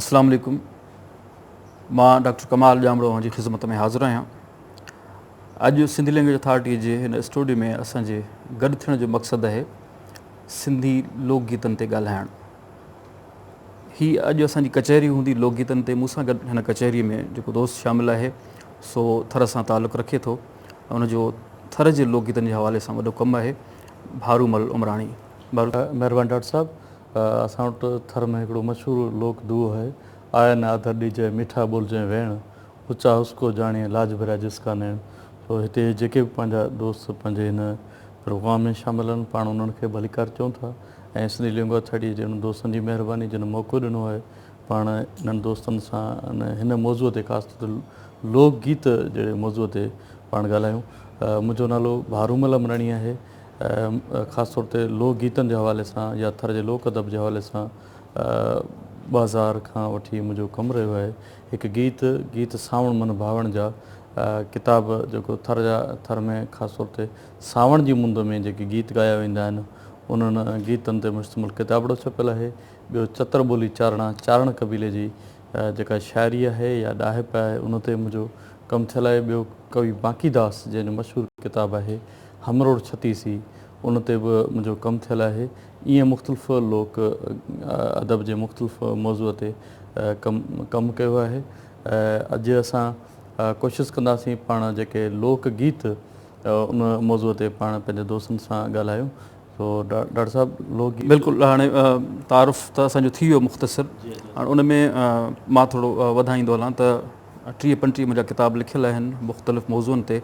اسلام عليڪم مان ڊاڪٽر ڪمال ڄامڙو اوهان جي خدمت ۾ حاضر آهيان اڄ سنڌي لينگويج اٿارٽي جي هن اسٽوڊيو ۾ اسان جي گڏ ٿيڻ جو مقصد آهي سنڌي لوڪ گيتن تي ڳالهائڻ هي اڄ اسان جي ڪچهري هوندي لوڪ گيتن تي مون سان گڏ هن ڪچهري ۾ جيڪو دوست شامل آهي سو ٿر سان تعلق رکي ٿو ان جو ٿر جي لوڪ گيتن جي حوالي سان وڏو ڪم آهي ڀارو مل عمراڻي مهربان ڊاڪٽر صاحب اسان وٽ ٿر ۾ هڪڙو مشهور لوڪ دوهو آهي، آء نه آڌر ڏيجئي، ميٺا ٻولجئي ويڻ، اچا اس ڪو جاڻيئي، لاج ڀريا جس ڪا نيڻ. سو هتي جيڪي به پنهنجا دوست پنهنجي هن پروگرام ۾ شامل آهن، پاڻ انهن کي ڀليڪار چئون ٿا ۽ سنڌي لينگوا ٿرڊيء جي انهن دوستن جي مهرباني جن موقعو ڏنو آهي پاڻ انهن دوستن سان هن موضوع تي خاص طور تي لوڪ گيت جهڙي موضوع تي پاڻ ڳالهايون. منهنجو نالو ڀارومل امراڻي آهي، خاص طور تي لوڪ گيتن جي حوالي سان يا ٿر جي لوڪ ادب جي حوالي سان ٻه هزار کان وٺي منهنجو ڪم رهيو آهي. هڪ گيت، گيت سانوڻ من ڀاوڻ جا ڪتاب جيڪو ٿر جا ٿر ۾ خاص طور تي سانوڻ جي مند ۾ جيڪي گيت ڳايا ويندا آهن انهن گيتن تي مشتمل ڪتابڙو ڇپيل آهي. ٻيو چتر ٻولي چارڻا، چارڻ قبيلي جي جيڪا شاعري آهي يا ڏاهپ آهي ان تي منهنجو ڪم ٿيل آهي. ٻيو ڪوي باقي داس جنهن جو مشهور ڪتاب آهي هم روڊ ڇتي سي ان تي به منهنجو ڪم ٿيل آهي. ائين مختلف لوڪ ادب جي مختلف موضوع تي ڪم ڪم ڪيو آهي. اڄ اسان ڪوشس ڪنداسين پاڻ جيڪي لوڪ گيت ان موضوع تي پاڻ پنهنجي دوستن سان ڳالهايون سو ڊاڪٽر صاحب لوڪ گيت. بلڪل هاڻي تعارف ته اسان جو ٿي ويو مختصر هاڻ ان ۾ مان ٿورو وڌائيندو هلان ته. ٽيهه پنٽيهه منهنجا ڪتاب لکيل آهن مختلف موضوعن تي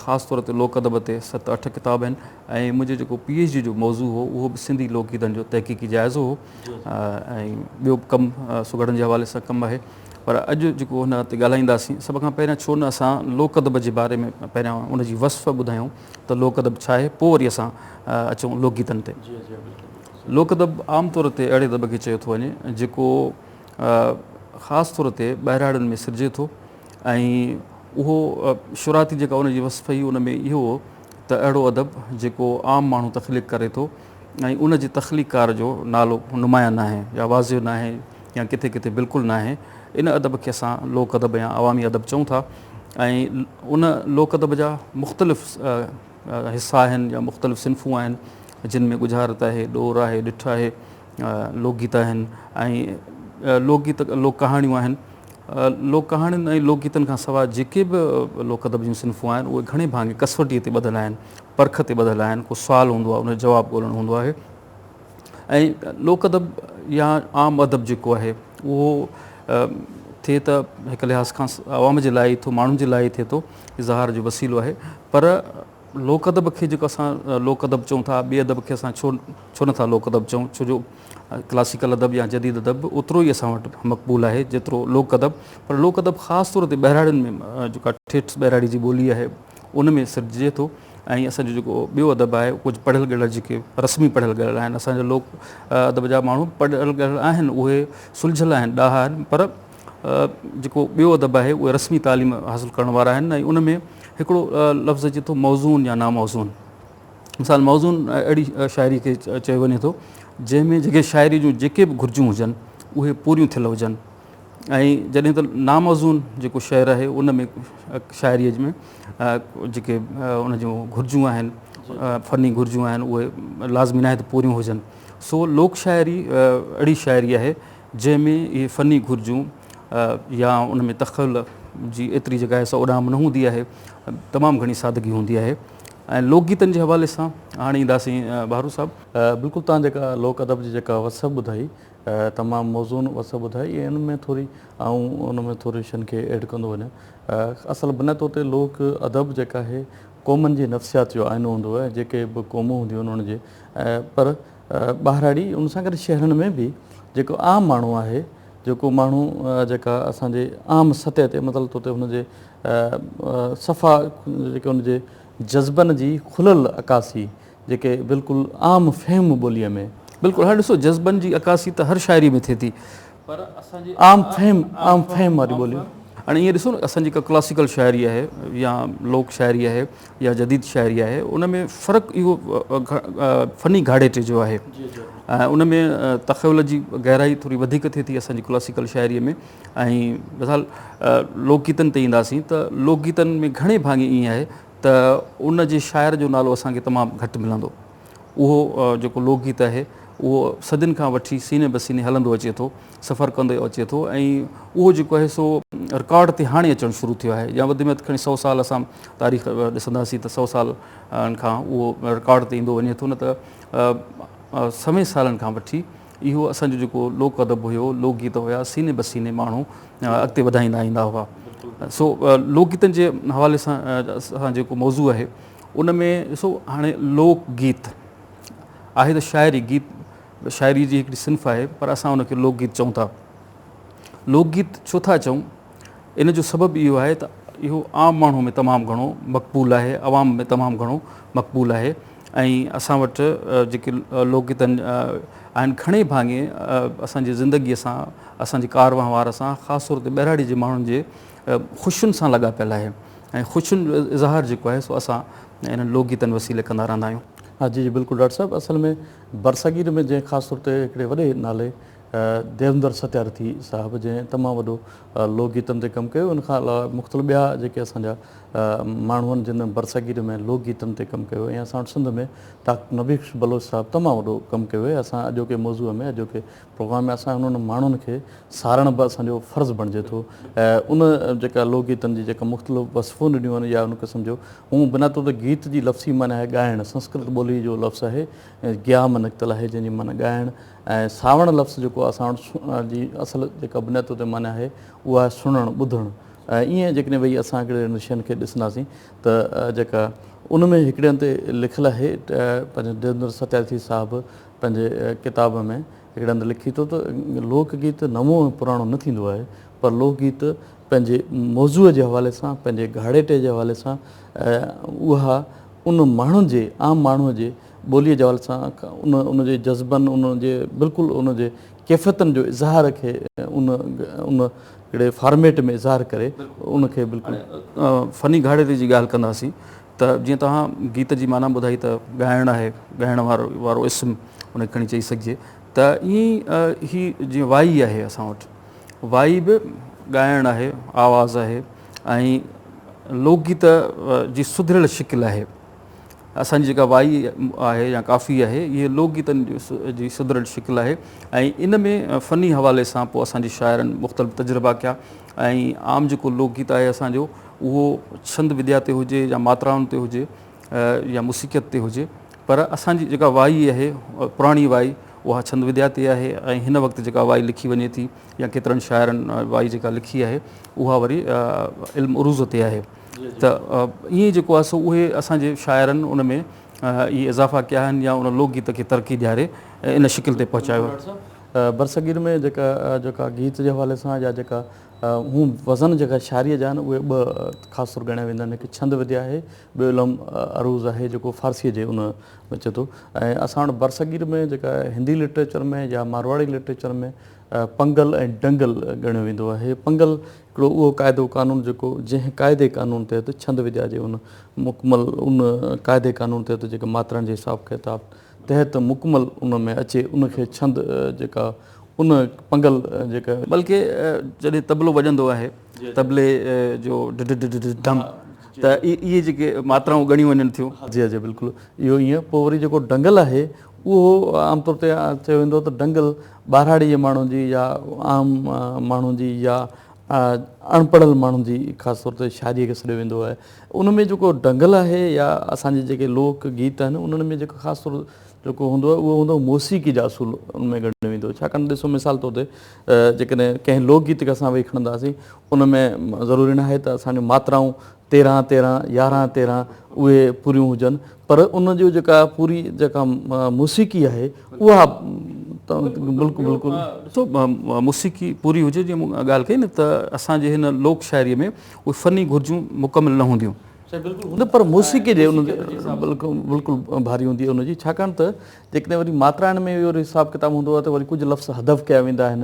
خاص طور تي لوڪ ادب تي ست اٺ ڪتاب آهن ۽ منهنجو جيڪو پي ايڇ ڊي جو موضوع هو اهو به سنڌي لوڪ گيتن جو تحقيقي جائزو هو ۽ ٻيو به ڪم سگهڙن جي حوالي سان ڪم آهي پر اڄ جيڪو هن تي ڳالهائينداسين سڀ کان پهريان ڇو نه اسان لوڪ ادب جي باري ۾ پهريان ان جي وصف ٻڌايون ته لوڪ ادب ڇا آهي پوء وري اسان اچون لوڪ گيتن تي لوڪ ادب عام طور تي اهڙي ادب کي چيو ٿو وڃي جيڪو خاص طور تي ٻهراڙين ۾ سرجي ٿو ۽ اهو شراتي جيڪا ان جي وصف هئي ان ۾ اهو هو ته اهڙو ادب جيڪو عام ماڻهو تخليق ڪري ٿو ۽ ان جي تخليقڪار جو نالو نمايان ناهي يا واضح ناهي يا ڪٿي ڪٿي بلڪل ناهي ان ادب کي اسان لوڪ ادب يا عوامي ادب چئون ٿا ۽ ان لوڪ ادب جا مختلف حصا آهن يا مختلف صنفون آهن جن ۾ ڳجهارت آهي ڏور آهي ڏٺ آهي لوڪ گيت آهن ۽ لوڪ گيت لوڪ ڪهاڻيون آهن. لوڪ ڪهاڻين ۽ لوڪ گيتن کان سواء جيڪي به لوڪ ادب جون صنفون آهن اهي گهڻي ڀاڱي ڪسوٽيء تي ٻڌل آهن، پرک تي ٻڌل آهن، ڪو سوال هوندو آهي ان جو جواب ڳولڻو هوندو آهي ۽ لوڪ ادب يا عام ادب جيڪو آهي اهو ٿئي ته هڪ لحاظ کان عوام جي لاء ئي ٿو ماڻهن جي لاء ئي ٿئي ٿو اظهار جو وسيلو آهي پر لوڪ ادب کي جيڪو اسان لوڪ ادب چئون ٿا، ٻئي ادب کي اسان ڇو ڇو نه ٿا لوڪ ادب چئون؟ ڇو جو ڪلاسيڪل ادب يا جديد ادب به اوترو ئي اسان وٽ مقبول آهي جيترو لوڪ ادب. پر لوڪ ادب خاص طور تي ٻهراڙين ۾ جيڪا ٺيٺ ٻهراڙي جي ٻولي آهي ان ۾ سرججي ٿو ۽ اسان جو جيڪو ٻيو ادب آهي اهو ڪجهه پڙهيل ڳڙهيل جيڪي رسمي پڙهيل ڳڙهيل آهن. اسان جا لوڪ ادب جا ماڻهو پڙهيل ڳڙهيل آهن اهي سلجهيل آهن ڏاها آهن پر جيڪو ٻيو ادب آهي اهي رسمي تعليم حاصل ڪرڻ وارا آهن ۽ ان ۾ هڪڙو لفظ اچي ٿو موزون يا ناموزون مثال موزون اهڙي شاعري کي چيو وڃي ٿو جنهن ۾ جيڪي شاعري جون جيڪي به گهرجون هجن اهي پوريون ٿيل هجن ۽ جڏهن ته ناموزون جيڪو شعر آهي ان ۾ شاعريء ۾ جيڪي ان جون گهرجون آهن فني گهرجون آهن اهي لازمي ناهي ته پوريون هجن سو لوڪ شاعري اهڙي شاعري آهي جنهن ۾ اهي فني گهرجون يا ان ۾ تخيل جي ايتري جيڪا آهي سا اڏام نه هوندي آهي، تمام گهڻي سادگي هوندي آهي ۽ لوڪ گيتن جي حوالي سان هاڻي اينداسين بهارو صاحب. بلڪل توهان جيڪا لوڪ ادب جي جيڪا وصف ٻڌائي تمام موزون وصف ٻڌائي ۽ ان ۾ ٿوري آئون ان ۾ ٿوري شين کي ايڊ ڪندو وڃان اصل بنياد طور تي لوڪ ادب جيڪا آهي قومن جي نفسيات جو آئينو هوندو آهي جيڪي به قومون هونديون آهن ان جي پر ٻهراڙي ان سان گڏ شهرن ۾ به جيڪو عام ماڻهو آهي جيڪو ماڻهو جيڪا اسان جي عام سطح تي مطلب طور تي هن جي صفا جيڪي ان جي جذبن جي کلل عڪاسي جيڪي بلڪل عام فهم ٻوليء ۾ بلڪل هاڻي ڏسو جذبن جي عڪاسي ته هر شاعري ۾ ٿئي ٿي پر اسان جي عام فهم عام فهم واري ٻولي هاڻي ايئن ڏسو نه اسان جي ڪا ڪلاسيڪل شاعري آهي يا لوڪ شاعري آهي يا جديد شاعري آهي ان ۾ فرق اهو فني گهاڙيٽي جو آهي ۽ ان ۾ تخيل جي گهرائي ٿوري وڌيڪ ٿئي ٿي اسان جي ڪلاسيڪل شاعري ۾ ۽ مثال لوڪ گيتن تي اينداسين ته لوڪ گيتن ۾ گهڻي ڀاڱي ائين آهي ته ان جي شاعر جو نالو اسان کي تمام گهٽ ملندو اهو جيڪو لوڪ گيت آهي اهو صدين کان وٺي سيني به سيني هلندو اچي ٿو سفر ڪندو اچي ٿو ۽ اهو جيڪو آهي سو رڪارڊ تي هاڻي اچڻ شروع ٿيو آهي يا وڌ ۾ وڌ کڻي سو سال اسان تاريخ ڏسنداسين ته سو سال کان اهو رڪارڊ تي ايندو وڃي ٿو نه ته سوين سالن کان وٺي اهو اسان جو جيڪو لوڪ ادب هيو لوڪ گيت هيا سيني به سيني ماڻهو اڳتي وڌائيندا ايندا هئا سو لوڪ گيتن جي حوالي سان اسان جيڪو موضوع آهي ان ۾ ڏسو هاڻي لوڪ گيت آهي ته شاعري گيت شاعري جي هڪڙي صنف آهي پر اسان ان کي لوڪ گيت چئون ٿا. لوڪ گيت ڇو ٿا چئون؟ ان جو سبب اهو آهي ته اهو عام ماڻهو ۾ تمام گهڻو مقبول آهي، عوام ۾ تمام گهڻو مقبول آهي ۽ اسان وٽ جيڪي لوڪ گيتن آهن گهڻي ڀاڱي اسان جي زندگي سان، اسان جي ڪار وهنوار سان خاص طور تي ٻهراڙي جي ماڻهن جي خوشين سان لاڳاپيل آهي ۽ خوشين جو اظهار جيڪو آهي سو اسان انهن لوڪ گيتن وسيلي ڪندا رهندا آهيون. ها جي جي بلڪل ڊاڪٽر صاحب اصل ۾ برصغير ۾ جنهن خاص طور تي هڪڙي وڏي نالي ديوندر ستيارٿي صاحب جنهن تمام وڏو لوڪ گيتن تي ڪم ڪيو ان کان علاوه مختلف ٻيا جيڪي اسان جا ماڻهو آهن جن برصغير ۾ لوڪ گيتن تي ڪم ڪيو ۽ اسان وٽ سنڌ ۾ ڊاڪٽر نبي بخش بلوچ صاحب تمام وڏو ڪم ڪيو اهي اسان اڄوڪي موضوع ۾ اڄوڪي پروگرام ۾ اسان انهن ماڻهن کي سارڻ به اسان جو فرض بڻجي ٿو ۽ ان جيڪا لوڪ گيتن جي جيڪا مختلف وصفون ڏنيون آهن يا ان قسم جو هون بنا طور ته گيت جي لفظي معنيٰ آهي ڳائڻ سنسڪرت ٻولي جو لفظ آهي گيام نڪتل آهي جنهن جي معنيٰ ڳائڻ ۽ ساوڻ لفظ جيڪو اسان وٽ جي اصل جيڪا بنا طور تي معنيٰ آهي اها آهي سڻڻ ٻڌڻ ۽ ايئن جيڪڏهن ويهي اسان هڪڙي نشين کي ڏسنداسين ته جيڪا ان ۾ هڪڙي هنڌ تي لکيل آهي پنهنجو ديوندر ستيارٿي صاحب پنهنجي ڪتاب ۾ هڪڙي هنڌ لکي ٿو ته لوڪ گيت نئون ۽ پراڻو نه ٿيندو آهي پر لوڪ گيت پنهنجي موضوع جي حوالي سان پنهنجي گهاڙيٽي جي حوالي سان اها ان ماڻهن جي عام ماڻهو جي ٻولي جي حوالي سان ان ان جي جذبن ان جي بلڪل ان جي ڪيفيتن جو اظهار کي ان ان هڪڙي فارميٽ ۾ اظهار ڪري ان کي بلڪل فني گهاڙيٽي جي ڳالهه ڪنداسين ته جيئن توهان گيت جي معنيٰ ٻڌائي ته ڳائڻ آهي، ڳائڻ وارو اسم ان کي کڻي چئي سگهجي ته ائين ئي هي جيئن وائي آهي اسان وٽ وائي به ڳائڻ آهي، آواز آهي ۽ لوڪ گيت جي سڌريل شڪل آهي. اسان جي جيڪا وائي آهي يا ڪافي آهي اهي لوڪ گيتن جي سڌريل شڪل آهي ۽ ان ۾ فني حوالي سان پوء اسان جي شاعرن مختلف تجربا ڪيا ۽ عام جيڪو لوڪ گيت آهي اسان جو اهو ڇند وديا تي هجي يا ماترائن تي هجي يا موسيقيت تي هجي پر اسان جي جيڪا وائي آهي پراڻي وائي اها ڇند وديا تي آهي ۽ هن وقت جيڪا وائي لکي وڃي ٿي يا ڪيترن شاعرن وائي جيڪا لکي آهي اها وري علم عروض تي آهي ته ائين جيڪو آهي سو اهي اسان جي شاعرن ان ۾ اهي اضافا ڪيا آهن يا ان لوڪ گيت کي ترقي ڏياري ان شڪل تي پهچايو آهي. برصغير ۾ جيڪا جيڪا گيت جي حوالي سان يا جيڪا هون وزن جيڪا شاعريء جا آهن اهي ٻه خاص طور ڳڻيا ويندا آهن هڪ ڇند وديا آهي ٻيو علم عروض آهي جيڪو فارسيء جي ان ۾ اچي ٿو ۽ اسان وٽ برصغير ۾ جيڪا هندي لٽريچر ۾ يا مارواڙي لٽريچر ۾ پنگل ۽ ڊنگل ڳڻيو ويندو آهي پنگل هڪڙو اهو قاعدو قانون جيڪو جنهن قاعدي قانون تحت ڇند وديا جي ان مڪمل ان قاعدي قانون تحت جيڪا ماترا جي حساب ڪتاب تحت مڪمل ان ۾ اچي ان کي ڇند جيڪا ان پنگل جيڪا. بلڪه جڏهن طبلو وڄندو آهي طبلي جو ڊڊ ڊڊ ڊڊ ڊم ته اهي جيڪي ماترائون ڳڻيون وڃن ٿيون. جي جي بلڪل اهو ائين پوء وري جيڪو ڊنگل آهي اهو عام طور تي چيو ويندو ته ڊنگل ٻهراڙي جي ماڻهن جي يا عام ماڻهن جي يا اڻ پڙهيل ماڻهن جي خاص طور تي شاعريء کي سڏيو ويندو آهي ان ۾ جيڪو ڍنگل آهي يا اسان جي جيڪي لوڪ گيت آهن انهن ۾ جيڪو خاص طور جيڪو هوندو آهي اهو هوندو موسيقي جا اصول ان ۾ ڳڻيو ويندو ڇاڪاڻ ته ڏسو مثال طور تي جيڪڏهن ڪنهن لوڪ گيت کي اسان ويهي کڻنداسين ان ۾ ضروري ناهي ته اسان جون ماترائون تيرهن تيرهن يارهن تيرهن اهي پوريون هجن پر ان جو جيڪا پوري جيڪا موسيقي آهي اها بلڪل بلڪل موسيقي پوري هجي جي مون ڳالهه ڪئي نه ته اسان جي هن لوڪ شاعري ۾ اهي فني گهرجون مڪمل نه هونديون هن پر موسيقي جي ان بلڪل بلڪل ڀاري هوندي ان جي ڇاڪاڻ ته جيڪڏهن وري ماترائڻ ۾ اهو حساب ڪتاب هوندو آهي ته وري ڪجهه لفظ هدف ڪيا ويندا آهن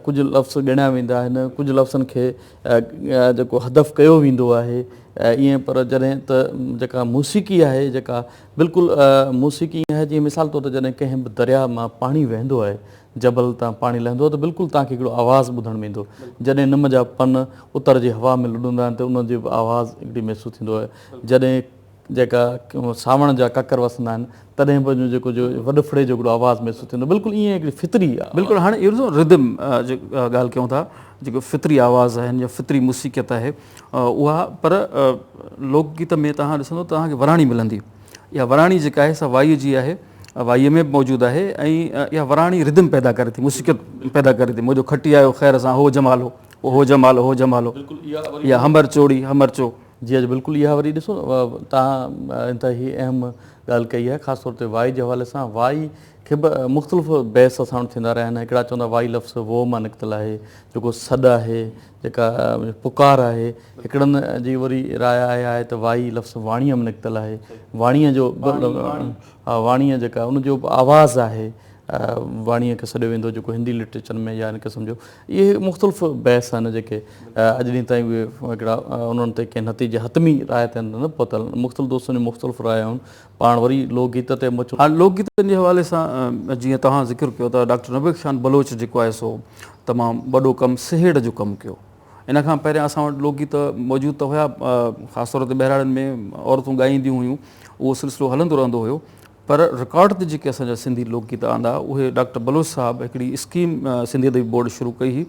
ڪجهه لفظ ڳڻيا ويندا آهن ڪجهه لفظن کي جيڪو هدف ڪيو ويندو آهي ائين پر جڏهن ته جيڪا موسيقي آهي جيڪا بلڪل موسيقي ائين آهي جيئن مثال طور تي جڏهن ڪنهن به درياء مان پاڻي وهندو آهي جبل تان پاڻي لهندو آهي ته بلڪل توهان کي هڪڙو آواز ٻڌڻ ۾ ايندو جڏهن نم جا پن اتر جي هوا ۾ لڏندا آهن ته ان جو به آواز هڪڙي محسوس ٿيندو آهي جڏهن جيڪا سانوڻ جا ڪڪر وسندا آهن تڏهن به جو جيڪو جو وڏڦڙي جو هڪڙو آواز محسوس ٿيندو آهي بلڪل ايئن هڪڙي فطري. بلڪل هاڻي اهو ڏسو Rhythm جي ڳالهه ڪيون ٿا جيڪو فطري آواز آهن يا فطري موسيقيت آهي اها پر لوڪ گيت ۾ توهان ڏسندو ته توهان کي وراڻي ملندي اها وراڻي جيڪا آهي سا وائيء جي آهي وائيء ۾ به موجود آهي ۽ اها وراڻي Rhythm پيدا ڪري ٿي موسيقيت پيدا ڪري ٿي منهنجو کٽي آيو خير سان هو جمالو هو جمالو هو جمالو يا همر چوڙي همر چو. جي اڄ بلڪل اها وري ڏسو تان انتهائي اهم ڳالهه ڪئي آهي خاص طور تي وائي جي حوالي سان وائي کي به مختلف بحث اسان وٽ ٿيندا رهيا آهن هڪڙا چوندا وائي لفظ وو مان نڪتل آهي جيڪو سڏ آهي جيڪا پڪار آهي هڪڙن جي وري راء آهي آهي ته وائي لفظ واڻيء مان نڪتل آهي واڻيء جو واڻيء جيڪا ان جو آواز آهي واڻيء کي سڏيو ويندو جيڪو هندي لٽريچر ۾ يا ان قسم جو اهي مختلف بحث آهن جيڪي اڄ ڏينهن تائين اهي هڪڙا انهن تي ڪنهن نتيجي حتمي راء تي نه پهتل مختلف دوستن جون مختلف رايون پاڻ وري لوڪ گيت تي اچون. هاڻ لوڪ گيتن جي حوالي سان جيئن توهان ذڪر ڪيو ته ڊاڪٽر نويد خان بلوچ جيڪو آهي سو تمام وڏو ڪم سهيڙ جو ڪم ڪيو ان کان پهريان اسان وٽ لوڪ گيت موجود ته هيا خاص طور تي ٻهراڙين ۾ عورتون ڳائينديون هيون اهو سلسلو هلندو رهندو هيو پر رڪارڊ تي جيڪي اسان جا سنڌي لوڪ گيت آندا اهي ڊاڪٽر بلوچ صاحب هڪڙي اسڪيم سنڌي ادبي بورڊ شروع ڪئي هئي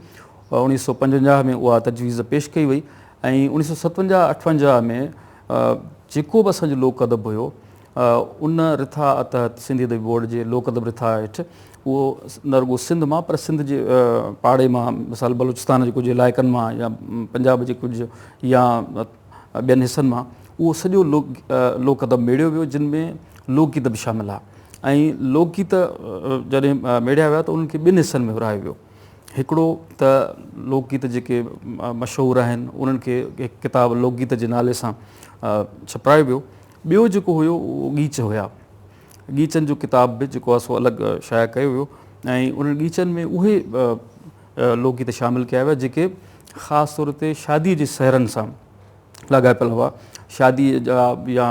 اوڻيهه سؤ پنجونجاهه ۾ اها تجويز پيش ڪئي وئي ۽ اوڻيهه سؤ ستونجاهه اٺونجاهه ۾ جيڪو به اسان جو لوڪ ادب هيو ان رٿا تحت سنڌي ادبي بورڊ جي لوڪ ادب رٿا هيٺ اهو نه رڳو سنڌ مان پر سنڌ جي پاڙي مان مثال بلوچستان جي ڪجهه علائقن مان يا پنجاب جي ڪجهه يا ٻين حصن مان اهو سڄو لوڪ ادب ميڙيو ويو جن ۾ لوڪ گيت به شامل ها ۽ لوڪ گيت جڏهن ميڙيا ويا ته انهن کي ٻن حصن ۾ ورهايو ويو هڪڙو ته لوڪ گيت جيڪي مشهور آهن انهن کي هڪ ڪتاب لوڪ گيت جي نالي سان ڇپرايو ويو ٻيو جيڪو هيو اهو ڳيچ هيا. ڳيچن جو ڪتاب به جيڪو آهي سو الڳ شايع ڪيو ويو ۽ انهن ڳيچن ۾ اهي لوڪ گيت شامل ڪيا ويا جيڪي خاص طور تي شاديء جي سهرن سان لاڳاپيل هئا شاديء جا يا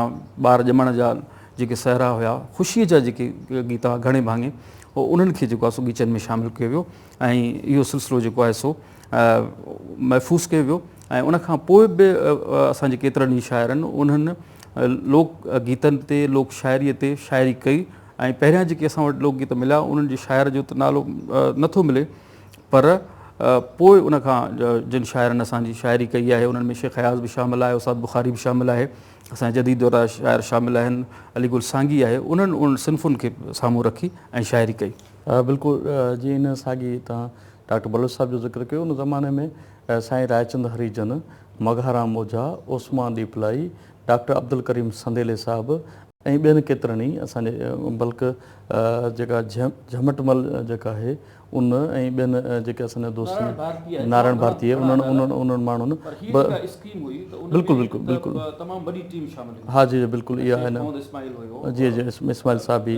ٻار ڄمڻ جا جيڪي سهرا هيا خوشيء جا جيڪي گيت هئا گهڻي ڀاڱي انهن کي جيڪو آهي سو ڳيچن ۾ شامل ڪيو ويو ۽ اهو سلسلو جيڪو آهي سو محفوظ ڪيو ويو ۽ ان کان پوء به اسان جي ڪيترن ئي شاعرن انهن لوڪ گيتن تي لوڪ شاعري تي شاعري ڪئي ۽ پهريان جيڪي اسان وٽ لوڪ گيت مليا انهن جي شاعر جو ته نالو نه ٿو ملي پر پوء ان کان جن شاعرن اسان جي شاعري ڪئي آهي انهن ۾ شيخ اياز به شامل آهي استاد بخاري به شامل آهي اسان جي جديد دور شاعر شامل آهن علي گل سانگي آهي انهن انهن صنفن کي سامهون رکي ۽ شاعري ڪئي بلڪل جيئن ان ساڳي تان ڊاڪٽر بلوچ صاحب جو ذڪر ڪيو ان زماني ۾ سائين رائچند هريجن، مگهارام اوجها، عثمان ڏيپلائي، ڊاڪٽر عبدالڪريم سنديلي صاحب ۽ ٻين ڪيترن ئي اسان جي بلڪ جيڪا جهمٽ مل جيڪا آهي ان ۽ ٻين جيڪي اسان جا دوست نارائڻ ڀارتي انهن انهن ماڻهن بلڪل بلڪل بلڪل ها جي جي بلڪل اها آهي نه جي جي اسماعيل صاحب بي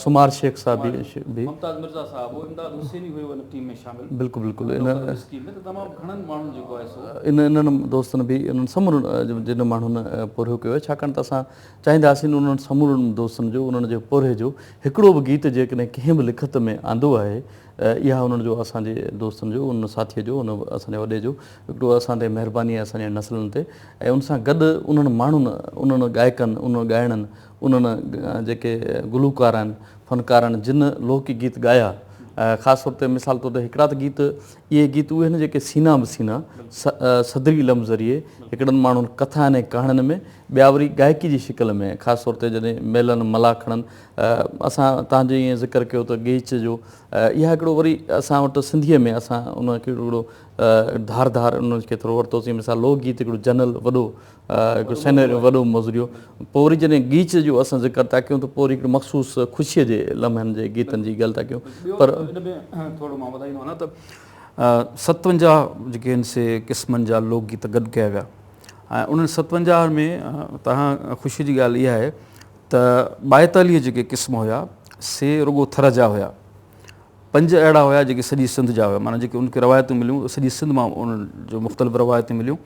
سمار شيخ صاحب بي ممتاز مرزا صاحب امداد حسيني هيو ان ٽيم ۾ شامل بلڪل بلڪل ان انهن دوستن به انهن سمورن جن ماڻهن پورهيو ڪيو آهي ڇاڪاڻ ته اسان چاهينداسين انهن سمورن دوستن جو انهن جي پورهئي جو هڪڙو به گيت جيڪڏهن ڪنهن به لکت ۾ آندو آهي اها انهن جو اسان جي دوستن جو ان ساٿي جو ان اسان جي وڏي جو هڪڙو اسان تي مهرباني آهي اسان جي نسلن تي ۽ ان سان گڏ انهن ماڻهن انهن ڳائڪن انهن ڳائڻن انهن جيڪي گلوڪارن، فنڪارن جن لوڪ گيت ڳايا خاص طور تي مثال طور تي هڪڙا ته گيت اهي گيت اهي آهن جيڪي سينا به سينا صدري علم ذريعي هڪڙن ماڻهن ڪٿائن ۽ ڪهاڻين ۾ ٻيا وري ڳائڪي جي شڪل ۾ خاص طور تي جڏهن ميلن ملاکڙن اسان تان جي ائين ذڪر ڪيو ته ڳيچ جو اها هڪڙو وري اسان وٽ سنڌيء ۾ اسان ان کي هڪڙو ڌار ڌار ان کي ٿورو ورتوسين مثال لوڪ گيت هڪڙو جنرل وڏو هڪ سينيرو وڏو مزريو پوء وري جڏهن ڳيچ جو اسان ذڪر ٿا ڪيون ته پوء وري هڪڙي مخصوص خوشيء جي لمحن جي گيتن جي ڳالهه ٿا ڪيون پر ان ۾ ٿورو مان وڌائي ڏيندو آهيان ته ستونجاهه جيڪي آهن سي قسمن جا لوڪ گيت گڏ ڪيا ويا ۽ انهن ستونجاهه ۾ تهان خوشيء جي ڳالهه اها آهي ته ٻائيتاليهه جيڪي قسم هيا سي رڳو ٿر جا هيا پنج اهڙا هيا جيڪي سڄي سنڌ جا هيا معنيٰ جيڪي ان کي روايتون مليون سڄي سنڌ مان انهن جو مختلف روايتون مليون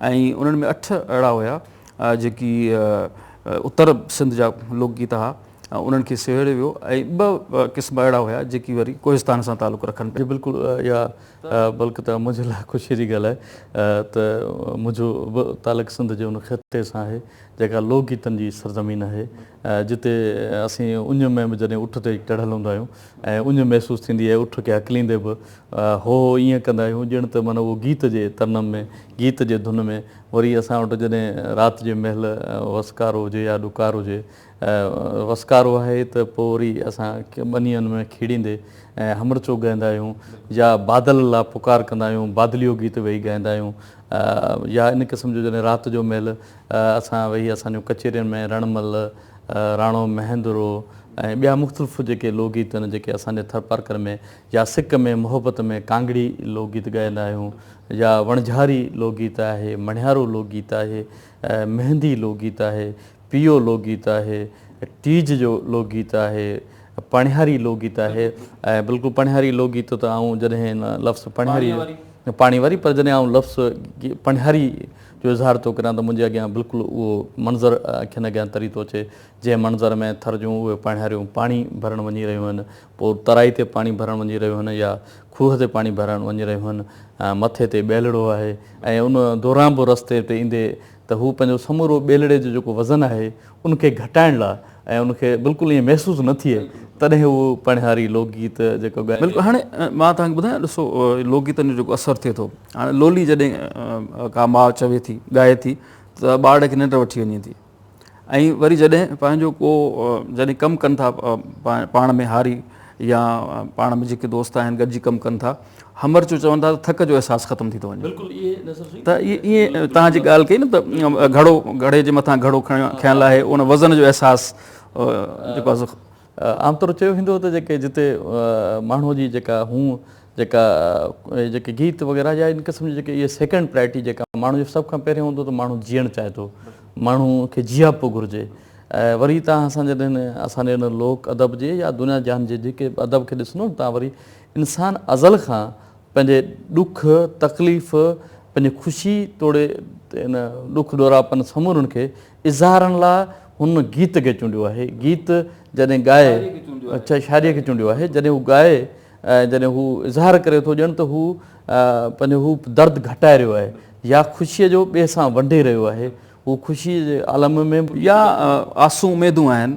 ۽ انهن ۾ اٺ اهڙا هيا جيڪي اتر سنڌ جا لوڪ گيت ها انهن کي سهيڙيو ويو ۽ ٻه قسم اهڙا هيا جيڪي وري ڪوهستان سان تعلق رکن پيا. بلڪل اها بلڪ ته منهنجي لاء خوشيء جي ڳالهه آهي ته منهنجو به تعلق سنڌ جي ان خطي سان آهي جيڪا لوڪ گيتن جي سرزمين آهي جتي اسين اڃ ۾ به جڏهن اٺ تي چڙهيل هوندا آهيون ۽ اڃ محسوس ٿيندي آهي اٺ کي هڪليندي به هو هو ائين ڪندا آهيون ڄڻ ته معنيٰ اهو گيت جي ترنم ۾ گيت جي ڌن ۾ وري اسان وٽ جڏهن رات جي مهل وسڪارو هجي يا ڏڪار هجي وسڪارو آهي ته پوء وري اسان ٻنين ۾ کيڙيندي همرچو ڳائيندا آهيون يا بادل لا پڪار ڪندا آهيون بادليو گيت ويهي ڳائيندا آهيون يا ان قسم جو جڏهن رات جو مهل اسان ويهي اسان جون ڪچهرين ۾ رڻ مل راڻو مهندرو ۽ ٻيا مختلف جيڪي لوڪ گيت آهن جيڪي اسان جي ٿرپارڪر ۾ يا سڪ ۾ محبت ۾ ڪانگڙي لوڪ گيت ڳائيندا آهيون يا وڻجهاري لوڪ گيت آهي مڻهيارو لوڪ گيت آهي مهندي لوڪ گيت آهي پيئو لوڪ گيت آهي ٽيج جو لوڪ گيت آهي پڻهياري لوڪ گيت آهي ۽ بلڪل پڻهياري لوڪ گيت ته آئون جڏهن لفظ پڻهياري پاڻي واري پر جڏهن آئون لفظ پڻهياري جو اظهار ٿو ڪريان ته منهنجي اڳيان بلڪل اهو منظر اکين اڳيان تري ٿو اچي، جنهن منظر ۾ ٿر جون اهي پاڻهاريون پاڻي ڀرڻ وڃي رهيون هن، پوء ترائي تي پاڻي ڀرڻ وڃي رهيون هن يا کوهه تي پاڻي ڀرڻ وڃي رهيون هن. مٿي تي ٻيلڙو آهي ۽ ان دوران به رستي تي ايندي ته هو پنهنجو سمورو ٻيلڙي جو جيڪو وزن آهي، ان کي گهٽائڻ لاء ۽ ان کي بلڪل ائين محسوس نه ٿئي تڏهن اهو پڻهاري لوڪ گيت جيڪو ڳائي. بلڪل هاڻي مان توهان کي ٻڌايان ڏسو لوڪ گيتن جو جيڪو اثر ٿئي ٿو هاڻي لولي جڏهن ڪا ماء چوي ٿي ڳائي ٿي ته ٻارڙي کي ننڊ وٺي وڃي ٿي ۽ وري جڏهن پنهنجو ڪو جڏهن ڪم ڪن ٿا پاڻ ۾ هاري يا پاڻ ۾ جيڪي دوست آهن گڏجي ڪم ڪن ٿا همرچو چون ٿا ته ٿڪ جو احساس ختم ٿي ٿو وڃي ته ائين توهان جي ڳالهه ڪئي نه ته گهڙو گهڙي جي مٿان گهڙو کنيل آهي ان وزن جو احساس جيڪو آهي سو عام طور چيو ويندو ته جيڪي جتي ماڻهو جي جيڪا هون جيڪا جيڪي گيت وغيره يا ان قسم جي جيڪي اهي سيڪنڊ پرائرٽي جيڪا ماڻهو جو سڀ کان پهريون هوندو ته ماڻهو جيئڻ چاهي ٿو ماڻهو کي جياپو گهرجي ۽ وري تان اسان جڏهن اسان جي ان لوڪ ادب جي يا دنيا جهان جي جيڪي ادب کي ڏسندو ته وري انسان ازل کان پنهنجي ڏک، تڪليف، پنهنجي خوشي توڙي ان ڏک ڏوراپن سمورن کي اظهارڻ لاء هن گيت کي چونڊيو آهي. گيت جڏهن ڳائي، شاعريء کي چونڊيو آهي، جڏهن هو ڳائي ۽ جڏهن هو اظهار ڪري ٿو ڄڻ ته هو پنهنجو هو درد گهٽائي رهيو آهي يا خوشيء جو ٻئي سان ونڊي رهيو آهي. هو خوشيء جي عالم ۾. يا آسو اميدون آهن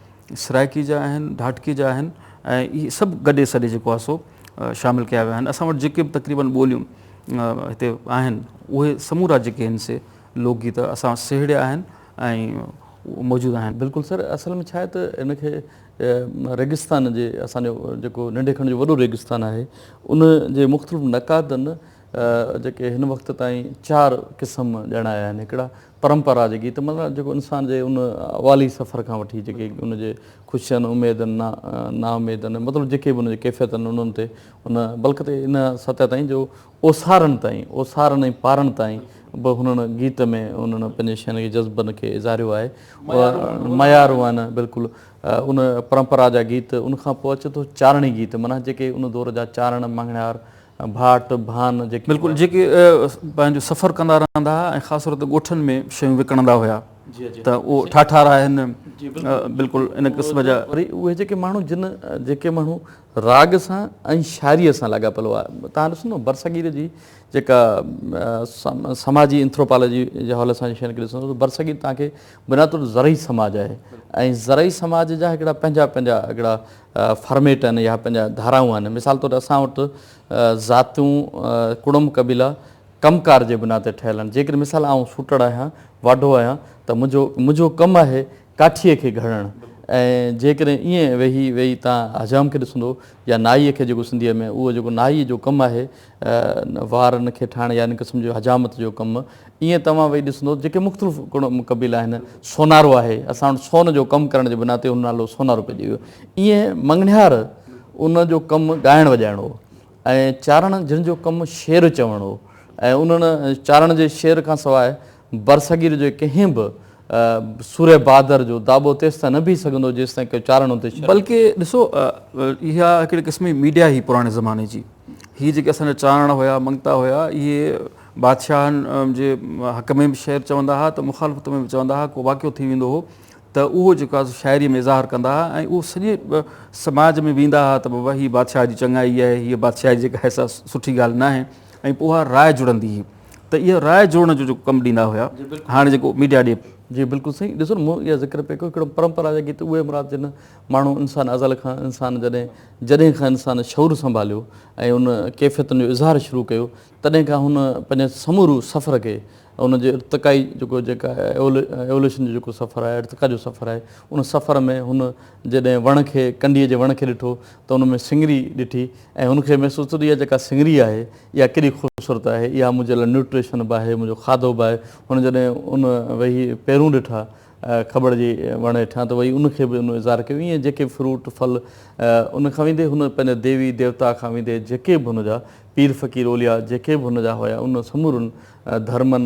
سرائڪي جا آهن، ڍاٽڪي جا آهن ۽ اهي سڀ گڏي سڏي جيڪو آهي سو شامل ڪيا ويا آهن. اسان وٽ جيڪي به تقريبن ٻوليون هتي آهن اهي سمورا جيڪي آهن سي لوڪ گيت اسان سهيڙيا آهن ۽ موجود آهن. بلڪل سر اصل ۾ ڇاهي ته ان کي ريگستان جي اسان جو جيڪو ننڍي کڻ جو وڏو ريگستان آهي ان جي مختلف نقادن جيڪي هن وقت تائين چار قسم ڄاڻايا آهن هڪڙا پرمپرا جي گيت مطلب جيڪو انسان جي ان والي سفر کان وٺي جيڪي ان جي خوشين اميدن نا نا اميدن مطلب جيڪي به ان جي ڪيفيت آهن انهن تي ان بلڪ تي ان سطح تائين جو اوسارن تائين اوسارن ۽ پارن تائين به هنن گيت ۾ انهن پنهنجي شين کي جذبن کي اظهاريو آهي ميارون آهن بلڪل ان پرمپرا جا گيت ان کان پوء اچي ٿو چارڻي گيت معنيٰ جيڪي ان دور جا چارڻ مڱڻهار ڀاٽ، ڀان، جيڪي. بلڪل جيڪي پنهنجو سفر ڪندا رهندا ها ۽ خاص طور تي ڳوٺن ۾ شيون وڪڻندا هيا ته اهو ٺاٺا راهن بلڪل ان قسم جا. وري اهي جيڪي ماڻهو جن جيڪي ماڻهو راڳ سان ۽ شاعريء سان لاڳاپيل هئا توهان ڏسو نه برصغير جي جيڪا سماجي انٿروپالاجي جي حوالي سان شين کي ڏسندو ته برصغير توهان کي بنياد طور زرعي سماج آهي ۽ زرعي سماج جا هڪڙا پنهنجا پنهنجا هڪڙا فارميٽ آهن يا پنهنجا ڌارائون آهن مثال طور اسان وٽ ذاتيون ڪڙم قبيلا ڪم ڪار جي بنا تي ٺهيل آهن جيڪڏهن مثال آئون سوٽڙ آهيان واڍو آهيان ته منهنجو منهنجو ڪم آهي ڪاٺيء کي گهڙڻ ۽ جيڪڏهن ايئن ويهي ويهي تان حجام کي ڏسندو يا نائي کي جيڪو سنڌيء ۾ اهو جيڪو نائي جو ڪم آهي وار نه کي ٺاهڻ يا ان قسم جو حجامت جو ڪم ائين توهان ويهي ڏسندو جيڪي مختلف قبيلا آهن سونارو آهي اسان وٽ سون جو ڪم ڪرڻ جي بنا تي ان نالو سونارو پئجي ويو ائين مڱڻهار ان جو ڪم ڳائڻ وڄائڻ هو ۽ چارڻ جن جو ڪم شعر چوڻ هو ۽ انهن چارڻ جي شعر کان سواء برصغير جي ڪنهن به سورهيه بهادر جو داٻو تيستائين نه بيهي سگهندو جيستائين ڪو چارڻ اتي شريڪ. بلڪ ڏسو اها هڪڙي قسم جي ميڊيا هئي پراڻي زماني جي. هي جيڪي اسان جا چارڻ هيا، منگتا هيا، اهي بادشاهن جي حق ۾ به شعر چوندا هئا ته مخالفت ۾ به چوندا هئا. ڪو واقعو ٿي ويندو هو ته اهو جيڪو آهي سو شاعريء ۾ اظهار ڪندا هئا ۽ اهو سڄي سماج ۾ ويندا هئا ته بابا هي بادشاهه جي چڱائي آهي، هيء بادشاهي جيڪا آهي سا سٺي ڳالهه ناهي. ۽ پوء اها راء جڙندي هئي ته اهي راء جوڙڻ جو جيڪو ڪم ڏيندا هيا هاڻي جيڪو ميڊيا ڏي. جي بلڪل صحيح ڏسو نه مون اها ذڪر پئي ڪيو هڪڙو پرمپرا جا گيت اهي مراد جن ماڻهو انسان ازل کان انسان جڏهن جڏهن کان انسان شعور سنڀاليو ۽ ان ڪيفيتن جو اظهار شروع ڪيو تڏهن کان هن پنهنجي سمورو سفر کي ان جي ارتقائي جيڪو جيڪا ايولوشن جو جيڪو سفر آهي ارتقا جو سفر آهي ان سفر ۾ هن جڏهن وڻ کي ڪنڊي جي وڻ کي ڏٺو ته ان ۾ سنگري ڏٺي ۽ هن کي محسوس ٿيو ته اها جيڪا سنگري آهي اها ڪيڏي خوبصورت آهي اها منهنجي لاء نيوٽريشن به آهي منهنجو کاڌو به آهي هن جڏهن ان وهي پيرون ڏٺا کبڙ جي وڻ هيٺان ته وهي ان کي به ان اظهار ڪيو ائين جيڪي فروٽ ڦل ان کان ويندي هن پنهنجي ديوي ديوتا کان ويندي جيڪي به هن جا پير فقير اولياء جيڪي به هن جا هيا ان سمورن ڌرمن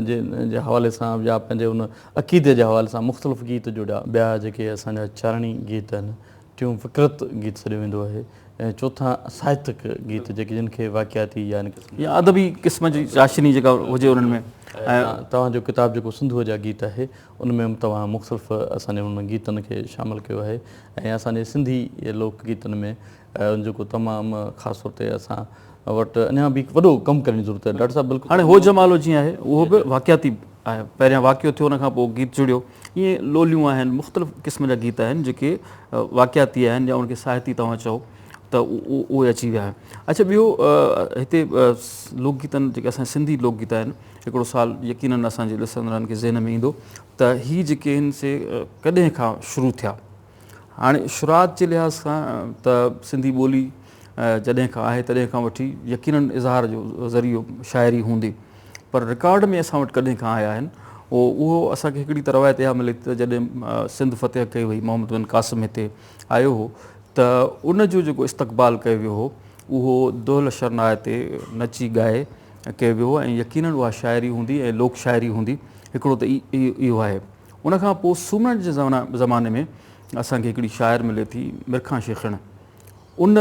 جي حوالي سان يا پنهنجي ان عقيدي جي حوالي سان مختلف گيت جڙيا. ٻيا جيڪي اسان جا چارڻي گيت آهن، ٽيون فڪرت گيت سڏيو ويندو آهي ۽ چوٿان ساهتڪ گيت جيڪي جن کي واقعاتي يا ان قسم يا ادبي قسم جي چاشني جيڪا هجي انهن ۾ ۽ توهان جو ڪتاب جيڪو سنڌوء جا گيت آهي ان ۾ به توهان مختلف اسان جي انهن گيتن کي شامل ڪيو آهي ۽ اسان جي سنڌي لوڪ گيتن ۾. جيڪو تمام خاص طور تي اسان وٽ اڃا به هڪ وڏو ڪم ڪرڻ جي ضرورت آهي ڊاڪٽر صاحب بلڪل هاڻي هو جمالو جيئن آهي اهو به واقعاتي آهي پهريان واقعو ٿيو ان کان پوء گيت جڙيو ائين لوليون آهن مختلف قسم جا گيت آهن جيڪي واقعاتي آهن يا ان کي ساهتي توهان چئو ته اهي اچي ويا آهن اچھا ٻيو هتي لوڪ گيتن جيڪي اسان سنڌي لوڪ گيت آهن هڪڙو سال يقينن اسان جي ڏسندڙن کي ذهن ۾ ايندو ته هي جيڪي آهن سي ڪڏهن کان شروع ٿيا هاڻي شروعات جي لحاظ کان ته سنڌي ٻولي جڏهن کان آهي تڏهن کان وٺي يقيناً اظهار جو ذريعو شاعري هوندي پر رڪارڊ ۾ اسان وٽ ڪڏهن کان آيا آهن اهو اسان کي هڪڙي ته روايت اها ملي ٿي ته جڏهن سنڌ فتح ڪئي وئي محمد بن قاسم هتي آيو هو ته ان جو جيڪو استقبال ڪيو ويو هو اهو دهل شرناء تي نچي ڳائي ڪيو ويو هو ۽ يقيناً اها شاعري هوندي ۽ لوڪ شاعري هوندي هڪڙو ته اهو آهي. ان کان پوء سومرن جي زماني ۾ اسان کي هڪڙي شاعر ملي ٿي مرکان شيخڻ ان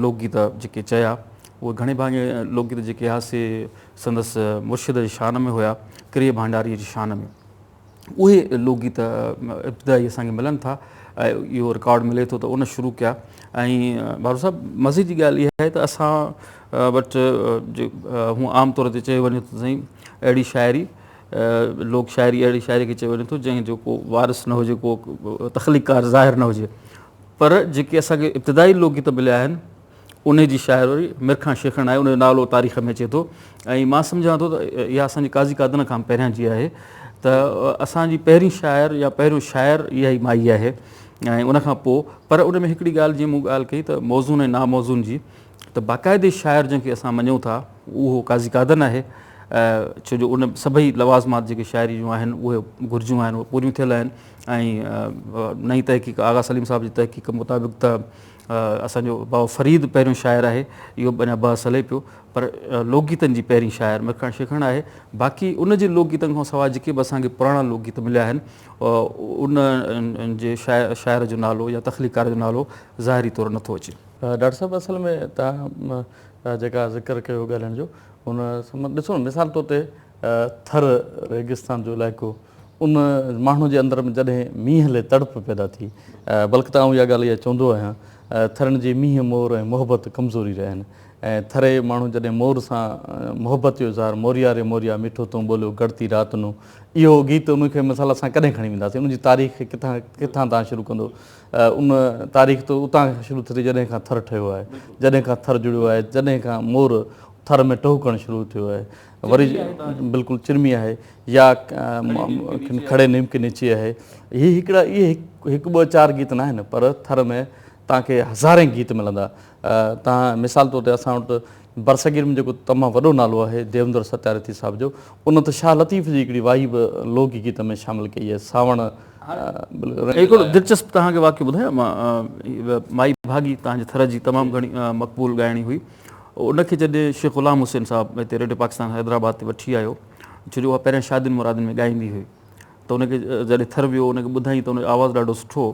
لوڪ گيت جيڪي چيا اهي گهڻي ڀاڱي لوڪ گيت جيڪي ها سي سندس مرشد جي شان ۾ هيا ڪري ڀانڊاري جي شان ۾ اهي لوڪ گيت ابتدائي اسان کي ملن ٿا اهو رڪارڊ ملي ٿو ته ان شروع ڪيا ۽ بارو صاحب مزي جي ڳالهه اها آهي ته اسان وٽ هون عام طور تي چيو وڃي ته سائين اهڙي شاعري لوڪ شاعري اهڙي شاعري کي چيو وڃي ٿو جنهن جو ڪو وارث نه هجي ڪو تخليقڪار ظاهر نه هجي پر جيڪي اسان کي ابتدائي لوڪ گيت مليا آهن انهي جي شاعري مير خان شيخڻ آهي ان جو نالو تاريخ ۾ اچي ٿو ۽ مان سمجهان ٿو ته اها اسان جي قاضي قادن کان پهريان جي آهي ته اسان جي پهرين شاعر يا پهريون شاعر اها ئي مائي آهي ۽ ان کان پوء پر ان ۾ هڪڙي ڳالهه جي مون ڳالهه ڪئي ته موزون ۽ ناموزون جي ته باقاعدي شاعر جنهن کي اسان مڃون ٿا اهو قاضي قادن آهي ڇو جو ان سڀئي لوازمات جيڪي شاعري جون آهن اهي گهرجون آهن اهي پوريون ٿيل آهن ۽ نئين تحقيق آغا سليم صاحب جي تحقيق مطابق ته اسان جو بابا فريد پهريون شاعر آهي اهو به اڃا بحث هلي پيو پر لوڪ گيتن جي پهرين شاعر ميرخان شيخڻ آهي باقي ان جي لوڪ گيتن کان سواء جيڪي به اسان کي پراڻا لوڪ گيت مليا آهن انهن جي شاعر جو نالو يا تخليقڪار جو نالو ظاهري طور نٿو اچي ڊاڪٽر صاحب اصل ۾ تنهن جيڪا ذڪر ڪيو ڳالهائڻ جو ان سمن ڏسو نه مثال طور تي ٿر ريگستان جو علائقو ان ماڻهو جي اندر ۾ جڏهن مينهن لي تڙپ پيدا ٿي بلڪ ته آئون اها ڳالهه اها چوندو آهيان ٿرين جي مينهن مور ۽ محبت ڪمزوري رهيا آهن ۽ ٿري ماڻهو جڏهن مور سان محبت جو اظهار موريا ري موريا ميٺو تون ٻوليو گڙتي رات نون اهو گيت ان کي مثال اسان ڪڏهن کڻي وينداسين ان جي تاريخ کي ڪٿان ڪٿان تان شروع ڪندو ان تاريخ ته اتان کان شروع ٿي جڏهن کان ٿر ٺهيو آهي جڏهن کان ٿر جڙيو آهي جڏهن کان مور ٿر ۾ ٽهڪڻ شروع ٿيو آهي وري بلڪل چرمي آهي يا کڙي نيم کي نيچي آهي هي هڪڙا اهي هڪ ٻه چار گيت ناهن پر ٿر ۾ تان کي هزارين گيت ملندا تان مثال طور تي اسان وٽ برصغير ۾ جيڪو تمام وڏو نالو آهي ديوندر ستيارٿي صاحب جو ان ته شاهه لطيف جي هڪڙي واهي به لوڪ گيت ۾ شامل ڪئي آهي سانوڻ هڪڙو دلچسپ توهان کي واقعو ٻڌايان مان مائي ڀاڳي توهان جي ٿر جي تمام گهڻي مقبول ڳائڻي هئي ان کي جڏهن شيخ غلام حسين صاحب هتي ريڊيو پاڪستان حيدرآباد تي وٺي آيو ڇو جو اها پهريان شادين مرادين ۾ ڳائيندي هئي ته ان کي جڏهن ٿر ويو ان کي ٻڌائين ته ان جو آواز ڏاڍو سٺو هو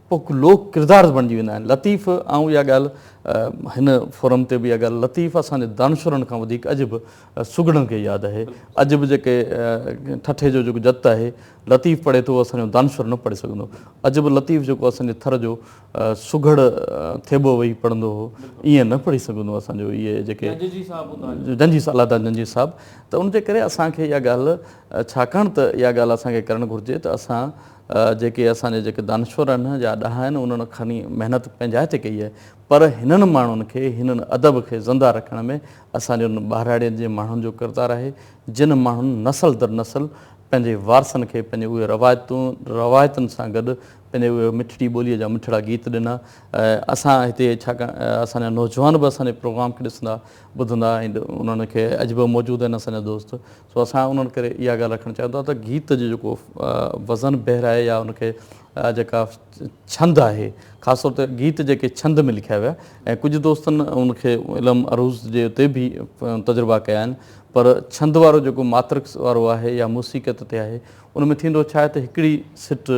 پوء لوڪ ڪردار بڻجي ويندا آهن. لطيف آئون اها ڳالهه هن فورم تي به اها ڳالهه لطيف اسان جي دانشورن کان وڌيڪ اڄ به سگهڙن کي ياد آهي. اڄ به جيڪي ٺٺي جو جيڪو جت آهي لطيف پڙهي ٿو اهو اسان جو دانشور نه پڙهي سگهندو. اڄ به لطيف جيڪو اسان جي ٿر جو سگهڙ ٿيٻو ويهي پڙهندو هو ائين نه پڙهي سگهندو اسان جو اهي جيڪي جنجي صاحب الادا جنجي صاحب ته ان جي ڪري اسان کي اها ڳالهه ڇاڪاڻ ته اها ڳالهه اسان کي ڪرڻ گهرجي ته اسان جيڪي اسان جا جيڪي دانشور آهن يا ڏاها آهن انهن کڻي محنت پنهنجائي تي ڪئي آهي پر هنن ماڻهن کي هن ادب کي زنده رکڻ ۾ اسان جي انهن ٻهراڙين جي ماڻهن جو ڪردار آهي جن ماڻهن نسل در نسل پنهنجي وارثن کي پنهنجي اهي روايتون روايتن سان گڏ پنهنجي اهي مٺڙي ٻوليء جا مٺڙا گيت ڏنا اسان هتي ڇاڪاڻ اسان جا نوجوان به اسان جي پروگرام کي ڏسندا ٻڌندا ۽ انهن کي اڄ به موجود آهن اسان جا دوست سو اسان انهن ڪري اها ڳالهه رکڻ چاهيون ٿا ته گيت جو جيڪو وزن بحر آهي يا ان کي جيڪا ڇند آهي خاص طور تي گيت جيڪي ڇند ۾ لکيا ويا ۽ ڪجهه دوستن ان کي علم عروض جي اتي به تجربا ڪيا آهن پر ڇند وارو جيڪو ماترڪس وارو آهي يا موسيقيت تي آهي ان ۾ ٿيندو ڇا آهي ته هڪڙي سٽ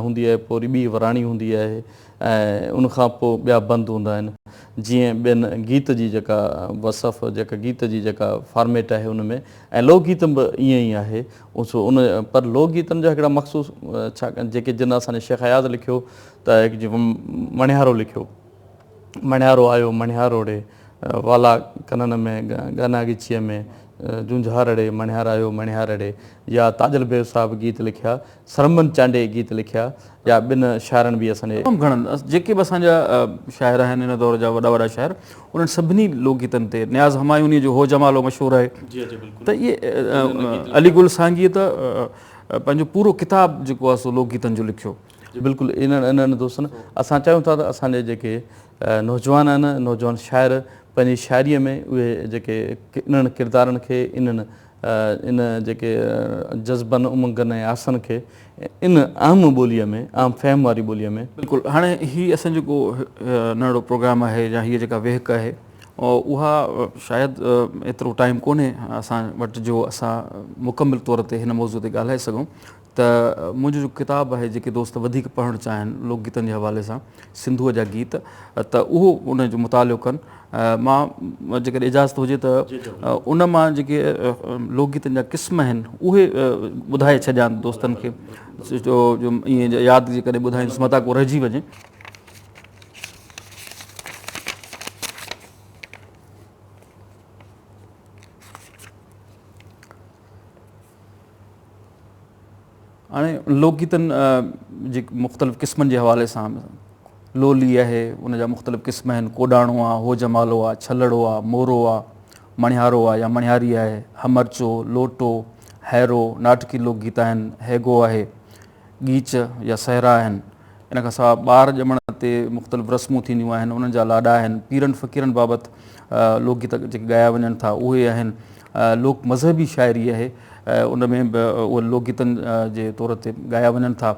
هوندي آهي پوري ٻي وراڻي هوندي آهي ۽ ان کان پوء ٻيا بند هوندا آهن جيئن ٻين گيت جي جيڪا وصف جيڪا گيت جي جيڪا فارميٽ آهي ان ۾ ۽ لوڪ گيتن به ائين ئي آهي سو ان پر لوڪ گيتن جا هڪڙا مخصوص ڇا جيڪي جن اسان جي شيخ اياز لکيو ته هڪ جي مڻهيارو لکيو مڻهيارو آيو مڻهيارو ڙي والا ڪنن ۾ گنا ڳچيء ۾ جونجهار ڙي مڻهيار آيو مڻهيار ڙي يا تاجل بيگ صاحب گيت لکيا سرمن چانڊيي گيت لکيا جا ٻن شاعرن به اسان جي. تمام گهڻن جيڪي به اسان جا شاعر آهن ان دور جا وڏا وڏا شاعر انهن سڀني لوڪ گيتن تي نياز همايونيء جو هو جمالو مشهور آهي ته اهي علي گل سانگيء ته پنهنجو پورو ڪتاب جيڪو آهي سو لوڪ گيتن جو لکيو. بلڪل انهن دوستن اسان چاهيون ٿا ته اسان جي جيڪي نوجوان آهن نوجوان شاعر پنهنجي شاعريء ۾ اهي جيڪي انهن ڪردارن کي انهن ان جيڪي جذبن، امنگن ۽ آسن کي ان عام ٻوليء ۾، عام فهم واري ٻوليء ۾. بلڪل. هاڻي هي اسان جيڪو ننڍڙو پروگرام آهي يا هيء جيڪا ويهڪ آهي اها شايد ايترو ٽائيم ڪونهي اسان وٽ جو اسان مڪمل طور تي هن موضوع تي ڳالهائي سگهون. ته منهنجو جو ڪتاب آهي جيڪي دوست وڌيڪ پڙهڻ چاهين لوڪ گيتن جي حوالي سان سنڌوء جا گيت ته اهو ان جو مطالعو ڪن مان جيڪڏهن اجازت هجي ته ان مان جيڪي لوڪ گيتن جا قسم آهن اهي ٻڌائي ڇڏيان دوستن کي جو ائين ياد جيڪڏهن ٻڌائينس متان ڪو رهجي وڃي هاڻي لوڪ گيتن جي مختلف قسمن جي حوالي سان لولي آهي ان جا مختلف قسم آهن ڪوڏاڻو آ هو جمالو آ ڇلڙو آ مورو آ مڻهارو آ يا مڻهاري آهي همرچو لوٽو هيرو ناٽڪي لوڪ گيت آهن هيگو آهي ڳيچ يا صحرا آهن. ان کان سواء ٻار ڄمڻ تي مختلف رسمون ٿينديون آهن، انهن جا لاڏا آهن، پيرن فقيرن بابت لوڪ گيت جيڪي ڳايا وڃن ٿا اهي آهن، لوڪ مذهبي شاعري آهي ان ۾ به اهي لوڪ گيتن جي طور تي ڳايا وڃن ٿا،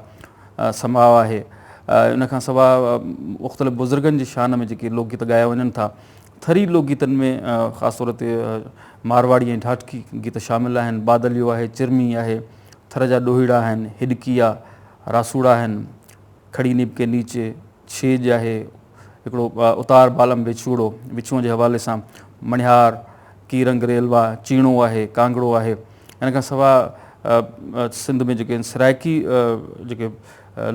سماء آهي. ان کان سواء مختلف بزرگن جي شان ۾ جيڪي لوڪ گيت ڳايا وڃن ٿا، ٿري لوڪ گيتن ۾ خاص طور تي مارواڙي ۽ ڍاٽڪي گيت شامل آهن، بادليو آهي، چرمي آهي، ٿر جا ڏوهيڙا آهن، هڏڪي آ، راسوڙا آهن، کڙي نيب ڪي نيچي، ڇيڄ آهي، هڪڙو اتار بالم ويڇوڙو، ويڇوئن جي حوالي سان مڻهيار، ڪي رنگ ريلوا، چيڻو آهي، ڪانگڙو آهي. ان کان سواء سنڌ ۾ جيڪي سرائڪي جيڪي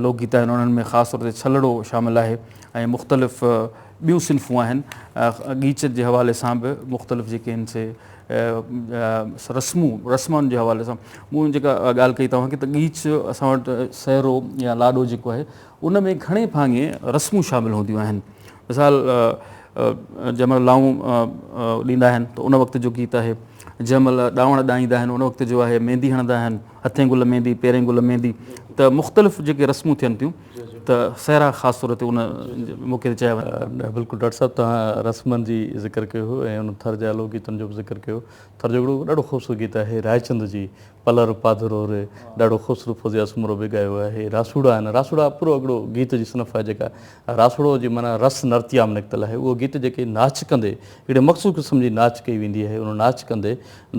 لوڪ گيت آهن انهن ۾ خاص طور تي ڇلڙو شامل آهي ۽ مختلف ٻيون صنفون آهن ڳيچ جي حوالي سان به مختلف جيڪي آهن سي رسمون رسمن جي حوالي سان مون جيڪا ڳالهه ڪئي توهان کي ته ڳيچ اسان وٽ سهرو يا لاڏو جيڪو آهي ان ۾ گهڻي ڀاڱي رسمون شامل هونديون آهن مثال جنهن مهل لائون ڏيندا آهن ته ان وقت جو گيت آهي جنهن مهل ڏاوڻ ڏائيندا آهن ان وقت جو آهي ميندي هڻندا آهن هٿين گل ميندي پيرين گل ميندي ته مختلف جيڪي رسمون ٿين ٿيون ته سهرا خاص طور تي ان موقعي تي چيا وڃن. بلڪل ڊاڪٽر صاحب توهان رسمن جي ذڪر ڪيو هو ۽ ان ٿر جا لوڪ گيتن جو به ذڪر ڪيو ٿر جو هڪڙو ڏاڍو خوبصورت گيت آهي رائچند جي پلر پاڌرو ري ڏاڍو خوبصورت فوزيه سومرو به ڳايو آهي راسوڙا آهن راسوڙا پورو هڪڙو گيت جي صنف آهي جيڪا راسوڙو جي معنيٰ رس نرتيام نڪتل آهي اهو گيت جيڪي ناچ ڪندي هڪڙي مخصوص قسم جي ناچ ڪئي ويندي آهي ان ناچ ڪندي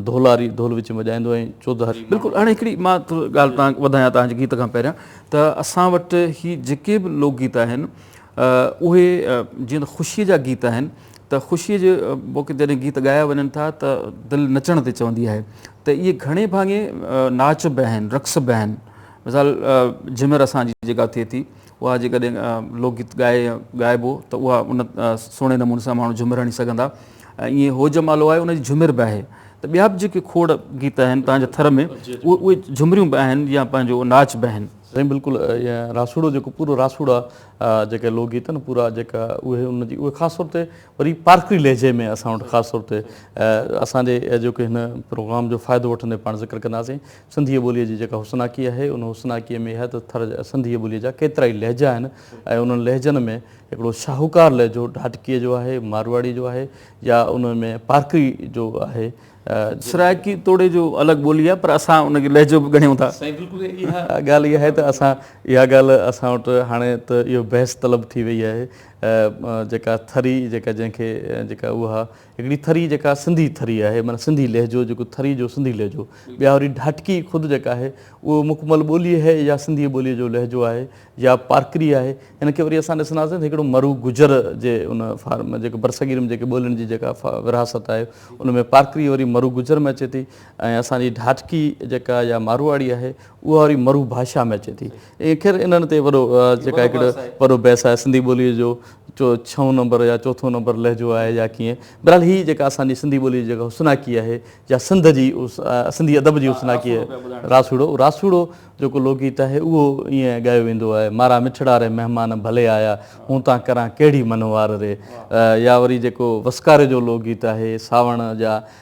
ڍولاري ڍول وچ ۾ وڄائيندو ۽ چوڌاري. بلڪل هاڻي هڪڙي مان ڳالهه تان وڌايان تان جي گيت کان پهريان ته اسان وٽ هي جيڪي به لوڪ گيت آهن اهي جيئن ته خوشي جا گيت آهن ته خوشي جي موقعي جڏهن گيت ڳايا وڃن ٿا ته دل نچڻ تي چوندي آهي ته اهي گهڻي ڀاڱي ناچ به آهن رقص به آهن مثال جهمر اسان جي جيڪا ٿئي ٿي اها جيڪڏهن لوڪ گيت ڳائي يا ڳائبو ته اها ان سهڻي نموني سان ماڻهو جهومر هڻي سگهندا ۽ ايئن هو جمالو آهي ان جي جهومر به آهي ته ٻيا به جيڪي کوڙ گيت آهن تهان جي ٿر ۾ اهي جهومريون به آهن يا پنهنجو ناچ به آهن. سائين بلڪل ائين راسوڙو جيڪو پورو راسوڙا جيڪي لوڪ گيت آهن پورا جيڪا اهي ان جي اهي خاص طور تي وري پارڪري لهجي ۾ اسان وٽ خاص طور تي اسان جي جيڪي هن پروگرام جو فائدو وٺندي پاڻ ذڪر ڪنداسين سنڌيء ٻوليء جي جيڪا حسناڪي آهي، ان حسناڪيء ۾ اها ته ٿر سنڌيء ٻوليء جا ڪيترائي لهجا آهن ۽ انهن لهجن ۾ هڪڙو شاهوڪار لهجو ڍاٽڪيء جو آهي، مارواڙيء جو آهي يا ان ۾ پارڪري جو آهي. سرائڪي توڙي جو الڳ ٻولي آهي پر اسان ان کي لهجو به ڳڻيون ٿا. سائين بلڪل اها ڳالهه ئي آهي ته اسان اها ڳالهه اسان وٽ هاڻي ته اهو بحث طلب ٿي وئي آهي جيڪا ٿري جيڪا جنهن کي جيڪا اها هڪڙي ٿري جيڪا سنڌي ٿري آهي معنيٰ سنڌي لهجو جيڪو ٿري جو سنڌي لهجو ٻيا وري ڍاٽڪي خود جيڪا آهي اهو مڪمل ٻولي هي يا سنڌي ٻولي جو لهجو آهي يا پارڪري آهي هن کي وري اسان ڏسنداسين ته هڪڙو مرو گجر جي ان فارم جيڪو برصغير ۾ جيڪي ٻولين جي جيڪا ورهاست آهي ان ۾ پارڪري وري مرو گجر ۾ اچي ٿي ۽ اسان جي ڍاٽڪي جيڪا يا ماروئاڙي آهي اها وري مرو ڀاشا ۾ اچي ٿي خير انهن تي وڏو جيڪا هڪڙو وڏو بحث آهي سنڌي ٻولي جو جو ڇهون نمبر يا چوٿون نمبر لهجو آهي يا ڪيئن برحال هي جيڪا اسان جي سنڌي ٻولي جي جيڪا حسناڪي آهي يا سنڌ جي سنڌي ادب جي حسناڪي آهي راسوڙو راسوڙو جيڪو لوڪگيت آهي اهو ائين ڳايو ويندو آهي مارا مٺڙا ري مهمان ڀلي آيا هون تان ڪران ڪهڙي منهوار ري يا وري جيڪو وسڪاري جو لوڪگيت آهي ساوڻ جا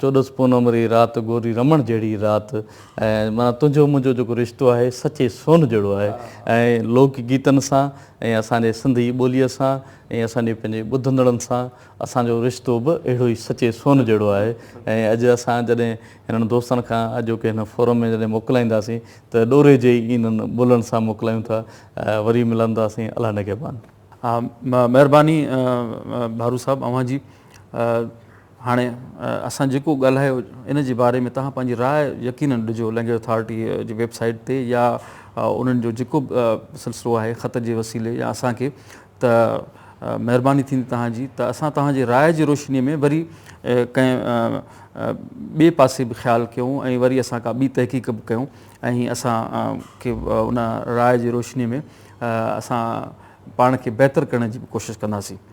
چوڏس پونم ري رات گوري رمڻ جهڙي رات ۽ معنيٰ تنهنجو منهنجو جيڪو رشتو آهي سچي سون جهڙو آهي ۽ لوڪ گيتن سان ۽ اسان جي سنڌي ٻوليء سان ۽ اسان جي پنهنجي ٻڌندڙن سان اسان جو رشتو به اهڙو ئي سچي سون جهڙو آهي ۽ اڄ اسان جڏهن هنن دوستن کان اڄوڪي هن فورم ۾ جڏهن موڪلائينداسين ته ڏوري جي ئي انهن بولن سان موڪلايون ٿا وري ملنداسين الله نگهبان. ها مهرباني ڀارو صاحب اوهان جي. هاڻي اسان جيڪو ڳالهايو ان جي باري ۾ توهان پنهنجي راء يقينن ڏجو لينگويج اٿارٽي جي ويب سائيٽ تي يا انهن جو جيڪو به سلسلو آهي خط جي وسيلي يا اسان کي ته مهرباني ٿيندي توهان جي ته اسان توهان جي راء جي روشني ۾ وري ڪنهن ٻئي پاسي به خيال ڪيون ۽ وري اسان ڪا ٻي تحقيق به ڪيون ۽ اسان کي ان راء جي روشني ۾ اسان پاڻ کي بهتر ڪرڻ جي به ڪوشش ڪنداسين.